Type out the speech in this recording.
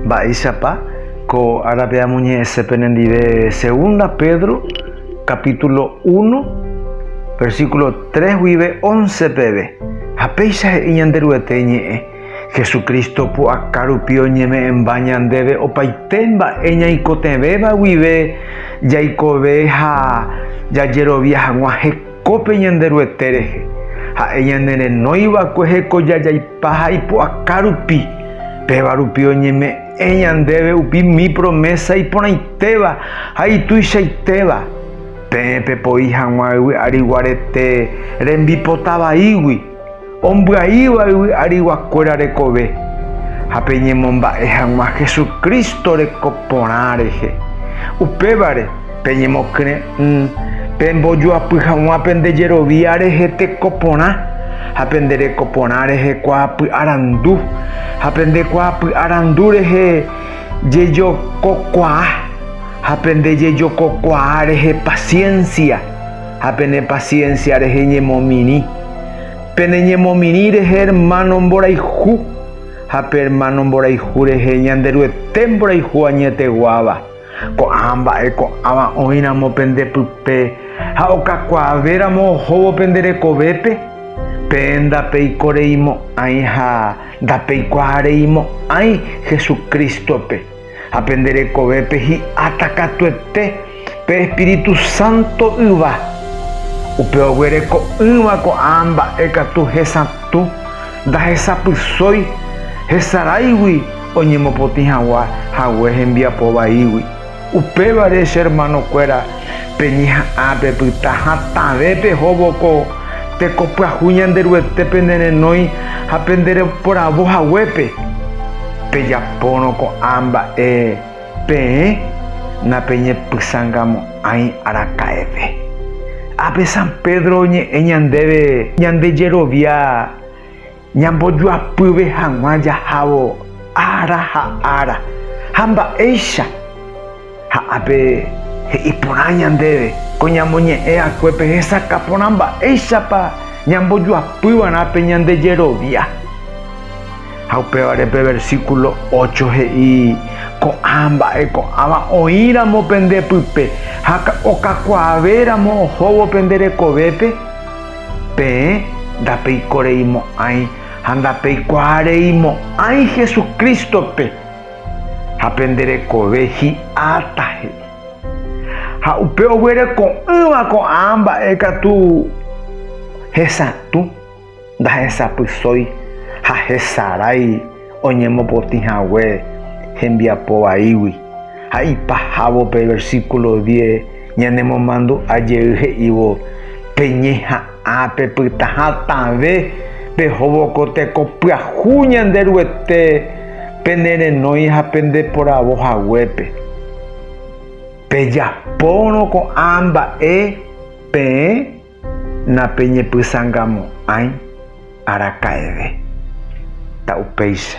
Mba'éichapa ko árape amoñe'ẽse penendive Segunda Pedro capítulo uno, versículo tres guive once peve, ha péicha he'i Ñanderuete iñe'ẽ, Jesucristo pu'aka rupi oñeme'ẽmba ñandéve opaite mba'e ñaikotevẽva guive jaikove ha jajerovia hag̃ua heko. Ko pe Ñanderuete rehe, ha'e ñane renói va'ekue hekoja jaipa ha ipu'aka rupi, péva rupi oñeme'ẽ ñandéve upi mi promésa iporãitéva ha ituichaitéva, peẽ pepoi hag̃ua yvy'ariguarete rembipota vaígui. ombyaíva yvy ariguakuéra rekove, ha peñemomba'e hag̃ua Jesucristo reko porã rehe. Upévare, peñemokyre'ỹ pembojoapy hag̃ua pende jerovia rehe teko porã, ha pende reko porã rehe kuaapy'arandu, ha pende kuaapy'arandu rehe jejokokuaa, ha pende jejokokuaa rehe paciencia. ha pene paciencia rehe ñemomirĩ. Pene ñemomirĩ rehe hermano mborayhu, ha pe hermano mborayhu rehe Ñanderuete mborayhu añeteguáva. Ko'ã mba'e ko'ãva oĩramo pende pype ha okakuaavéramo ohóvo pende rekovépe, peẽ ndapeikoreimo'ãi ha ndapeikuaareimo'ãi Jesucristo-pe. Ha pende rekovépe hi'áta katuete pe Espíritu Santo yva. Upe oguereko'ỹva ko'ã mba'e katu hesatũ, ndahesapysói, hesaráigui oñemopotĩ hagua hague hembiapo vaígui. Upévare, che hermanokuéra, Peñeha'ã, pepyta hatãve pehóvo ko tekopyahu Ñanderuete penerenói ha pendereporavo haguépe. Pejapórõ ko'ã mba'e peẽ, napeñepysãngamo'ãi araka'eve. Ápe San Pedro oñe'ẽ ñandéve ñande jerovia. Ñambojoapyve hag̃ua jahávo ára ha ára, ha mba'éicha ha ápe he'i porã ñandéve ko ñamoñe'ẽ akuépe hesakã porã mba'éichapa ñambojoapy va'erã pe ñande jerovia. Ha upévare pe versíkulo ócho he'i ko'ã mba'e ko'ãva oĩramo pende pype ha okakuaave ramo ohóvo pende rekovépe. Peẽ ndapeikoreimo'ãi ha ndapeikuaareimo'ãi Jesucristo-pe, ha pende rekove hi'áta he'i. Ha upe oguereko'ỹva ko'ã mba'e katu hesatũ, ndahesapysói ha hesarái. oñemopotĩ hague hembiapo vaígui. Ha ipahávo pe versíkulo diez ñanemomandu'a jey he'ívo, Peñeha'ã pepyta hatãve pehóvo ko teko pyahu Ñanderuete penerenói ha pendeporavo haguépe. Pejapórõ ko'ã mba'e peẽ. Napeñepysangamo'ãi araka'eve. Ta upéicha.